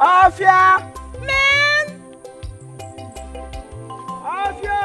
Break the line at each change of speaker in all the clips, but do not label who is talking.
Afia! Men! Afia!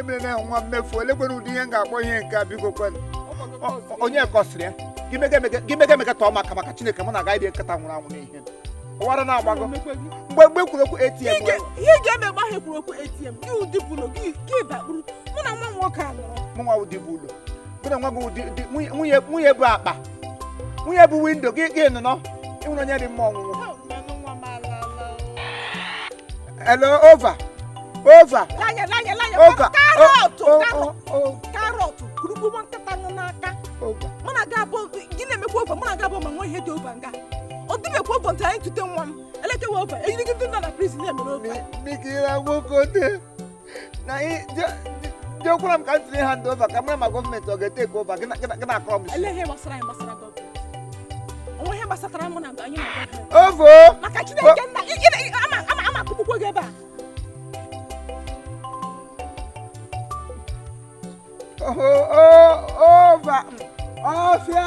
emere na nwa mmefu olekwere ụdị ihe m ga-akpọ ihe nke a biko kwenụ onye kọsịrị ya gị mega emega- gị mega emega tọọ maka maka chineke mụ na agaghị dị nkịta nwụrụ anwụ n'ihe ụwara na-agbago mgbe mgbe kwuru okwu atm ihe ị ga-eme mgbe ahụ ekwuru okwu atm gị ụdị bụlụ gị gị
bakpuru mụ na nwa nwoke a nọrọ mụ nwa ụdị bụ
ụlọ mụ na nwa gị ụdị ụdị- nwunye- nwunye nwunye bụ akpa nwunye bụ windo gị gị nụnọ ị nwụrụ onye dị mma ọnwụnwụ Hello, over. Over. Lanye, lanye, lanye. Over.
Karọtụ, oh, oh, karọtụ. Oh, karọtụ, kurukwu nwa nkịta nọ n'aka. Mụ na ga-abụ, gị na-emekwa over, mụ na ga-abụ ma nwee ihe dị over nga. Ọ dịbekwa over ntị anyị tute nwa m. Elekewa over, eyiri gị ndị nọ na prison na-emere over. Mikira nwoke
na jekwara m ka m tinye hand over ka m mara ma gọọmenti ọ ga-etake over gị na-akọrọ m isi
ova maka Chineke nna ama ama akụgbukwa gị ebe
a ova ọfịa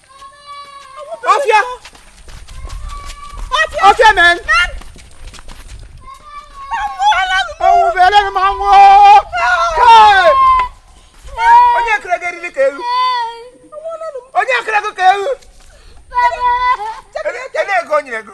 ọfịa ọfịa men ọwụbere m anwụ onye kere gị eriri ka ewu onye kere gị ka ewu ego o nyere ego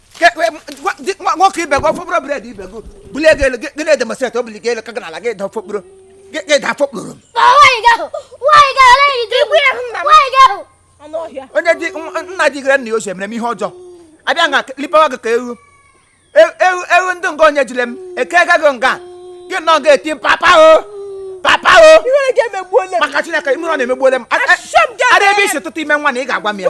nwoke ibe gị ọfọkpụrụ bred ibe gị bulie gị elu gị na-edemonstrate o bulie gị elu ka gị n'ala gị da ọfọkpụrụ gị da
afọkpụrụ onye
dị nna dị
gịre nna ya ochie mere m ihe ọjọọ abịa nga lipawa gị ka ewu ewu ndị nga onye jire m eke gaghị nga gị nọ ga-eti papa o papa o
maka chineke imerụ
na-emegbuole m ada ebe isi ụtụtụ ime nwa na ị ga-agwa m ya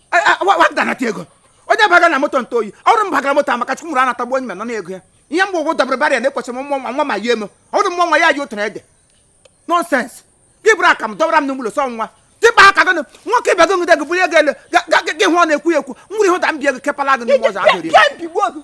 wadanata ego onye baga na moto nta oyi ọrụ m bagara moto maka chukwu mụrụ anatagbu onye nọ na-ego ya ihe mgbe ụgwụ dabere barịa na-ekwesịrị m nwa nwa ma yie m ọrụ m nwa ya ji otu na-ede nọnsens gị buru aka m dọbara m n'ụlọ sọ nwa dịba aka gị nwoke ibe gị jide gị bulie gị elu gị hụ ọ na-ekwu ekwu nwere ihe ụda m bie gị kepala gị n'ụzọ ahụ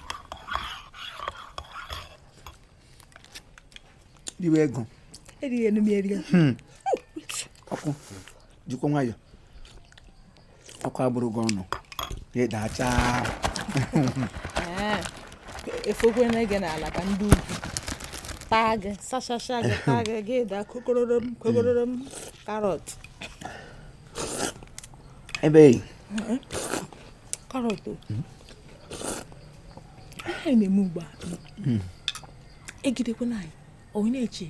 riwe ego erighị enu m
erighị
hmm. ọkụ jikwa nwayọ ọkụ agbụrụ gị ọnụ ịdacha
efokwe na ege n'ala ka ndị ugwu taa gị sachasha gị taa gị gị da kokororom kokororom carrot
ebe
carrot anyị na-eme ugbu a hmm. ejidekwana anyị onye
na-eche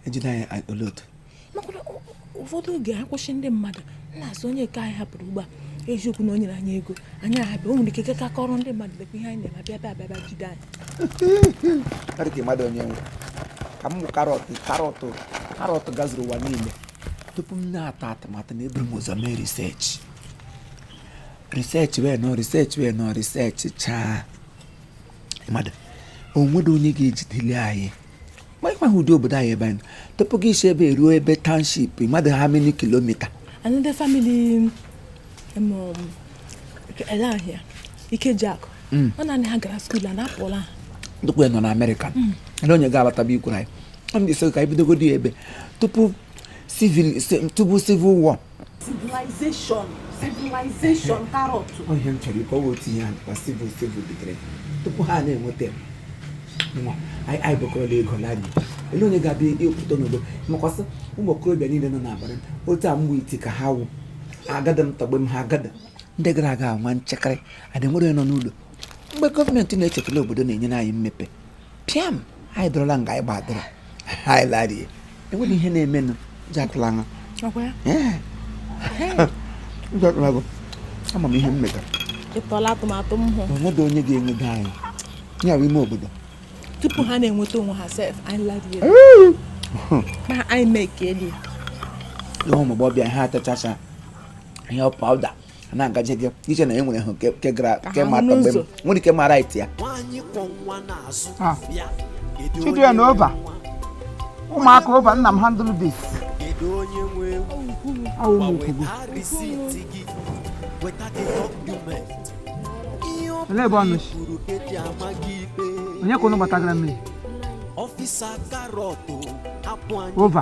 ejide anyị olee otu makwana
ụfọdụ oge anyị kwụsị ndị mmadụ na-asị onye nke anyị hapụrụ ugbu a eziokwu na o nyere anyị ego anyị ahapụ ya o nwere ike ka kọrọ ndị mmadụ lekwa ihe anyị na-eme abịa bịa abịa jide
anyị dịka mmadụ onye nwe ka m carrot carrot carrot gazuru ụwa niile tupu m na-atụ atụmatụ na eburu m ụzọ mee research research wee nọ research wee nọ research chaa mmadụ o nwedị onye ga-ejideli anyị ma ịkwaghị ụdị obodo anyị ebe anyị tupu gị esi ebe a eruo ebe township mmadụ how many kilomita another family
um, um, ele ahịa Ikejiakụ hmm. ọ naanị ha gara skuul a na-apụla ha tupu ya nọ na
Amerịka hmm. ele onye ga-abataba ikwuru anyị ọ na-eso ka anyị bidogodi ebe tupu civil tupu civil war
civilization civilization carrot ihe m chọrọ
ịkọwa otu ihe a civil civil bidoro tupu ha na-enweta nwa anyị bukọrọla ego lari ele onye ga-abịa ịpụta n'obodo makwasị ụmụ okorobịa niile nọ na abroad otu a mgbe iti ka ha wụ agadi m tọgbe m ha agadi ndị gara aga anwa nchekara adị nwere nọ n'ụlọ mgbe gọọmenti na-echetala obodo na-enyere anyị mmepe pịam anyị dọrọla nga anyị gbadoro anyị larie enweghị ihe na-emenụ ji atụla aṅa ama m ihe m metara ịtụla atụmatụ
m hụ o nwedị onye
ga-enwudo anyị ya bụ ime obodo tupu
ha na-enweta onwe ha sef anyị larie ma anyị mee ka eli ya
ụmụagbọghọbịa ha atachacha ihe powder na-agaje gị eche na e nwere ha nke gara nke ma atọ mgbe m nwere ike mara iti ya ah. chidie na ova ụmụaka ova nna m handle this olee ebe ọnụ onye ka unu gbatagara mmiri ova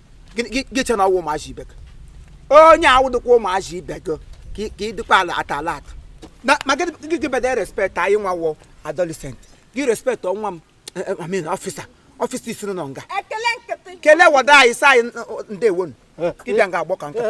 gị chee na ọ wụ ụmụazị ibe gị onye awụdịkwa ụmụazị ibe gị ka ị dịkwa alert alert ma gị bede respect anyị nwa wụ adolescent gị respect onwe m eh, eh, I mean officer officer isiri nọ
nga kelee wada anyị sa anyị
ndewonu gị bịa nga agbọ ka nkata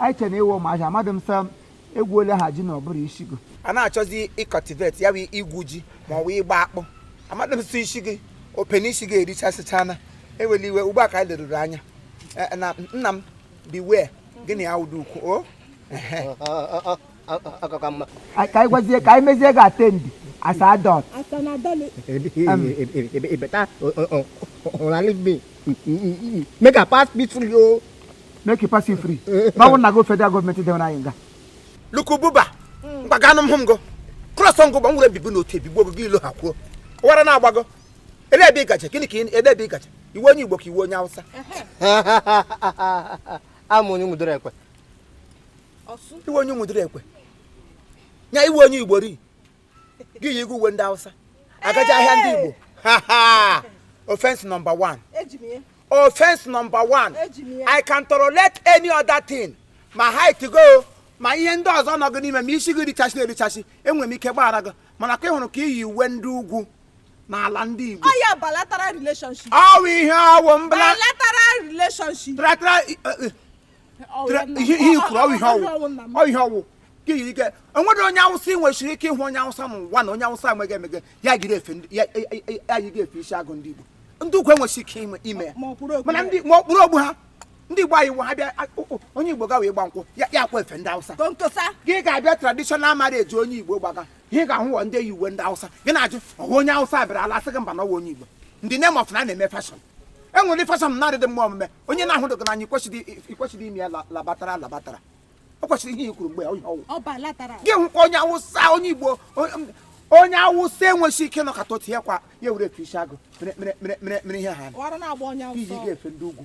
anyị chere ịwụ ụmụahịa amadị m sọ egwu ole ha ji na ọ bụrụ ishi gị a na-achọzi ị cultivate ya wụ igwu ji ma ọ wụ ịgba akpụ amadị m sị ishi gị opene ishi gị erichasịchana ewele iwe ugbu a ka anyị leruru anya Eh, na nna m biwe gịnị ya ụdị ukwu o ka anyị gwazie ka anyị mezie gị attend as
adult better leave me make I pass peacefully oh. make you pass you
free n'ọnwụ na go federal government dewere anyị nga lukububa mgbaganụ m hụ m go cross ngụ gbanwere ebibu n'otu ebigbo ogogo ilo ha kwuo ụwara na-agbago ele ebe ịgaje gịnị ka ele ebe ịgaje ị wụ onye igbo ka ị wụ onye
awụsa awụ m onye Ụmụduru Ekwe
ị wụ onye
Ụmụduru Ekwe nya ị wụ onye igbo ri gị yi uwe ndị awụsa agaje ahịa ndị igbo offense number one
offense number
one i can tolerate any other thing ma height gị o ma ihe ndị ọzọ nọ gị n'ime ma isi gị richasị erichasị enwere m ike gbaghara gị mana ka ị hụrụ ka i yi uwe ndị ugwu n'ala ndị Igbo ọya bilateral
relationship ọ wụ ihe ọ
wụ mbla bilateral
relationship bilateral eh, eh,
ihe ihe kwuru ọ ihe ọ wụ ọ ihe ọ wụ ka iyi ike enwere onye awụsa ị nweshiri ike ịhụ onye awụsa n'ụwa na onye awụsa enweghị emege ya yide efe ndị- ya- ya- ya- ya yide efe ishi agụ ndị igbo ndị ugwu enweshi ike ime- ime ya Ma ọ kwụrụ okwu mana ya. ndị ma ọ kpụrụ ogbu ha ndị igbo anyị wụ ha bịa a- o- o- onye igbo gawa ịgba nkwụ ya ya akwa efe ndị awụsa konkosa gị ga-abịa
traditional
marriage onye igbo gbaga ihe ị ga-ahụ wụ ndị yi uwe ndị awụsa gị na-ajụ ọ wụ onye awụsa bịara ala asị gị mba na ọ wụ onye igbo in the name of na a na-eme fashion e nwere fashion na-adịdị mma omume onye na-ahụdị gị n'anya i kwesịdị i kwesịdị ime ya la- labatara labatara o kwesịrị ihe i kwuru mgbe onye ọ wụ bilateral
gị hụkwa onye
awụsa onye igbo onye- onye awụsa enweshi ike nọkata otu ya kwa ya were efe ishi agụ mere mere mere mere mere ihe ha ọrụ na-agba onye iji awụsa
ga-efe ndị ugwu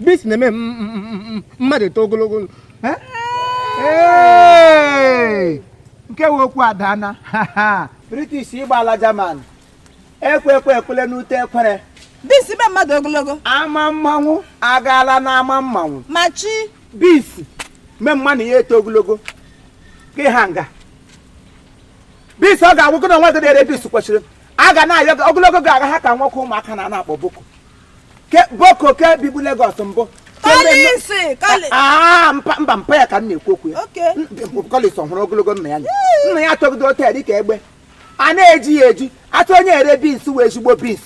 beans na-eme mmadụ eto
ogologo nke wụ okwu adaana british ịgba ala german ekwe ekwe ekwele n'ute ekwere beans mee
mmadụ ogologo ama
mmanwụ agaala n'ama mmanwụ ma
chi beans
mee manụ ya eto ogologo gị ha nga beans ọ ga-agwụkọ na nwa gị na-ere beans kwesịrị a gaa na ya ogologo gị ga-aha ka nwoke ụmụaka na na-akpọ boko ke boko ke bibu Lagos mbụ Ke mme- Collins,
kọlị. Ah, mpa- mba mpa
ya ka m na-ekwu okwu ya Oke. Collins
ọ
hụrụ ogologo nna ya nna ya atọgido ote dịka egbe a na-eji ya eji atụ onye ere beans wụ ezigbo beans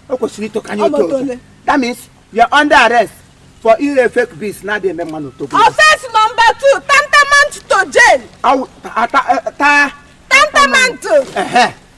o kwesịrị ito kanye Ọ oto oto motole. that means you are under arrest for ire fake beans na-adịghị eme manụ eto Offense number
two, tantamount to jail. Awụ- ta- ta- ta-
Tantamount. Ehe.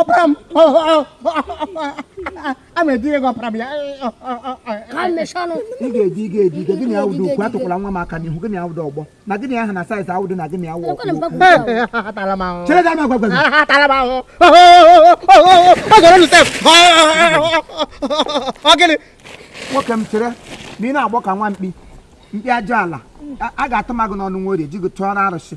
ọpara m a ma edire gị
ọpara m ya ị ga-edi ị ga-edi
ike gịnị awụdị okwu atụkwala nwa m aka n'ihu gị na ya awụdị ọgbọ na gị na ya aha na size awụdị na gị na ya awụ
chere ga ama gwagwa nwoke m chere
na ị na-agbọ ka nwa mkpi mkpi ajọ ala a ga-atụ magụ n'ọnụ were ji gị chụọrọ arụsị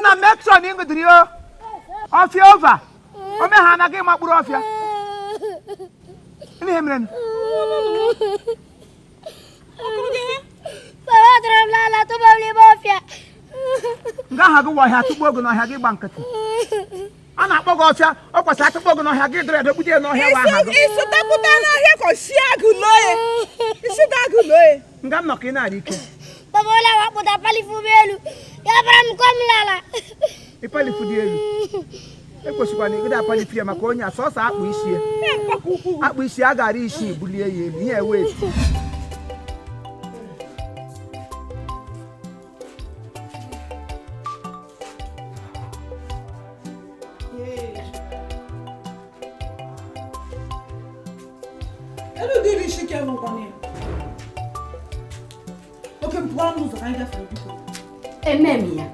nna metron ịṅụdịrị o ọfịa over ome ha anaghị ịma mkpụrụ ọfịa ihe mere nga aha gị wa ọhịa tụgbuo ogo n'ọhịa gị gba nkịtị a na-akpọ gị ọfịa ọ kwesịrị a tụkpọ gị n'ọhịa gị dịrị edogbute ya n'ọhịa wa aha gị isi dapụta
n'ọhịa ka e si agụ lawyer isi ga-agụ lawyer nga m nọ ka ị na-adị
ike baba ole wa
kpụta palifu m elu ya bara m kọm lala
ịpalifu dị elu ekwesịkwana ịgide apalifu ya maka onye a sọsọ akpụ isi ya akpụ isi a gara isi bulie ya elu ihe wee
emem
ya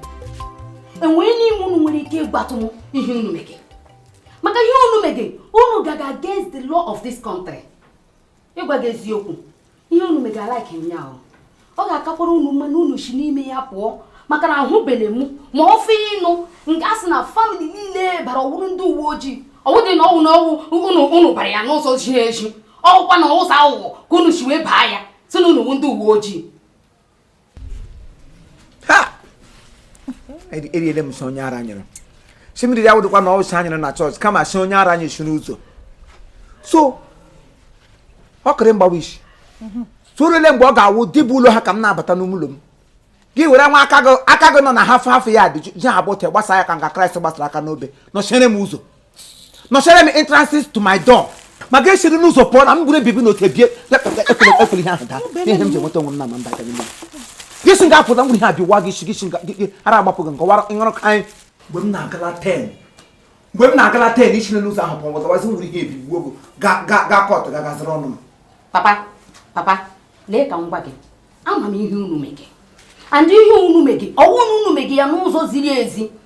enwere n'ime unu nwere ike ịgwatụ m ihe unu mege maka ihe unu mege unu gaga against the law of this country ịgwa gị eziokwu ihe unu mega alaiki ụnyaahụ ọ ga-akakwara unu mma na unu si n'ime ya pụọ maka na ahụbele m ma ọ fọ ịnụ nga a sị na family niile bara ọwụrụ ndị uwe ojii ọ wụdị na ọ wụ na ọ wụ unu unu bara ya n'ụzọ ziri ezi ọ wụkwa n'ụzọ aghụghọ ka unu si wee baa ya sị na unu wụ ndị uwe ojii
eriele m sị onye ara nyere si mmiri ya wụdịkwa na ọwụsị anyere na church kama sị onye ara anyị si n'ụzọ so ọkịrị mgbawa isi sorole mgbe ọ ga-awụ dịbụ ụlọ ha ka m na-abata n'ụlọ m gị were nwa aka gị nọ na half half ya dị ji ha bụte gbasa ya ka nga Christ gbasara aka n'obe nọchiere m ụzọ nọchere m entrances to my door ma gị esiri n'ụzọ pụọ na m bụrụ ebibi na oke bie ekwere ihe ahụ daa ihe m ji enweta onwe m na ma mba n'ime gịsi m ga-apụta m were ihe a biwa gị isi gịsi gị ara agbapụ gị nke wara ịṅụrụ ka anyị mgbe m na-agụla ten mgbe m na-agụla ten i si n'ụzọ ahụ pụọ ọzọwazi m were ihe a bigbuo gị ga court ga gaziri ọnụ m
papa papa lee ka m gwa gị ama m ihe unu mege and ihe unu mege ọ wụ unu mege ya n'ụzọ ziri ezi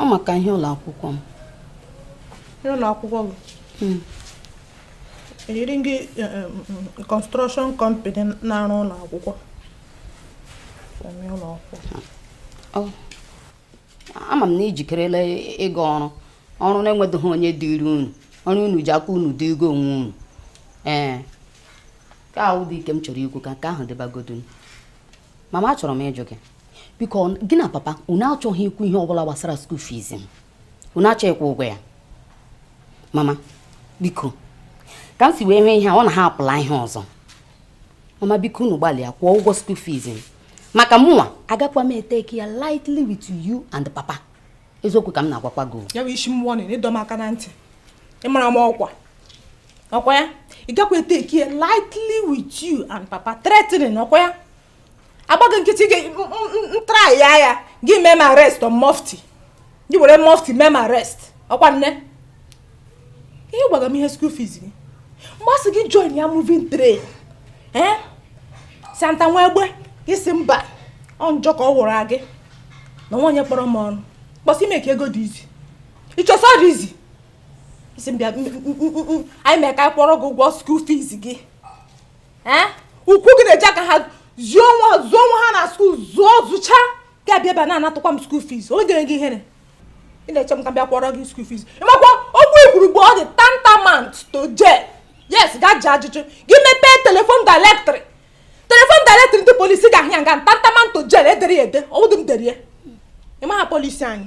ọ maka ihe ụlọ akwụkwọ m
ihe ụlọ akwụkwọ gị hmm. yiri gị eh, eh, mm, mm, construction company na-arụ ụlọ akwụkwọ
ama m na i jikerela ịga ọrụ ọrụ na-enwedoghị onye dịrị unu ọrụ unu ji aka unu dị ego onwe unu ee ka ahụ dị ike m chọrọ ikwu ka nke ahụ dịbagodu mama achọrọ m ịjụ gị biko gị na papa unu achọghị ikwu ihe ọbụla gbasara school fees m unu achọ ịkwụ ụgwọ ya mama biko ka m si wee nwee ihe a ọ na ha apụla ihe ọzọ mama biko unu gbalịa kwụọ ụgwọ school fees m maka mụnwa agakwa m eteki ya lightly with you and papa eziokwu ka m na-agwakwa gị ya bụ ị sị m warning
ịdọ m aka na ntị ịmara m ọkwa ọkwa ya ị gakwa eteki ya lightly with you and papa threatening ọkwa ya a gba gị nkịtị gị try ya ya gị mee m arrest on mufti gị were mufti mee m arrest ọkwa nne ihe gwaga m ihe school fees gị mgbe a sị gị join ya moving train ee santa nwa egbe ị sị mba ọ njọ ka ọ wụrụ gị na nwaonye kpọrọ m ọnụ kpọsị i me ka ego dị easy i che sị ọ dị easy ị sị m bịa anyị mee ka anyị kwụọrọ gị ụgwọ school fees gị ee ukwu gị na-eji aka ha zụọ onwe zụọ onwe ha na school zụọ zụcha gị abịa ebe a na-anatụkwa m school fees onye gere gị ihere ị na-eche m ka bịa kwụọrọ gị school fees ị makwa okwu i kwuru ugbu a ọ dị tantamount to jail yes ga jụọ ajụjụ gị mepee telephone directory telephone directory ndị police ị ga-ahụ ya nga tantamount to jail e dere ya ede ọ wụdị m dere ya ị maha police anyị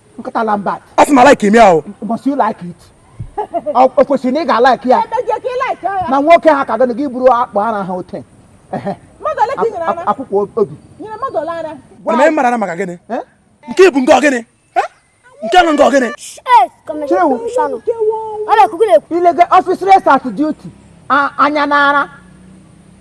nkata lambat a sị m alaiki m ya o must you like
it o o kwesịrị na ị ga-alaiki ya emeje ka ị like ya na nwoke ha ka gịnị gị buru akpụ ara ha hotel Ehe. mmadụ ole ka ị nyere ara akwụkwọ obi nyere mmadụ ole
ara mana m mara na maka gịnị Eh? nke bụ nke ọgịnị Eh? nke nọ nke ọgịnị Yes, Commissioner. Chewu. Commissioner.
Ọ na-ekwukwu na-ekwu. illegal officers at duty anya n'ara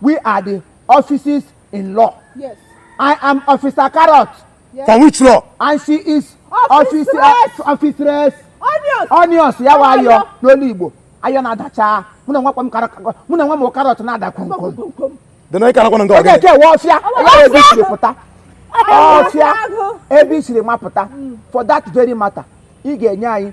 We are the officers in law. Yes.
I
am Officer Carrot. Yes. For which
law?
And she is
Office Officeress.
Officeress. Onions.
Onions. Ya wụ ayọ n'olu Igbo. Ayọ na-ada cha. Mụ n'onwe m Carrot. Mụ n'onwe m Carrot na-ada kwomkwom. Dị na ịka nakwana
nke ọgịnị. Ọ ga-eke ewe ọfịa.
Ọfịa ebe i siri pụta. Ọfịa ebe i siri mapụta. For that very matter, ị ga-enye anyị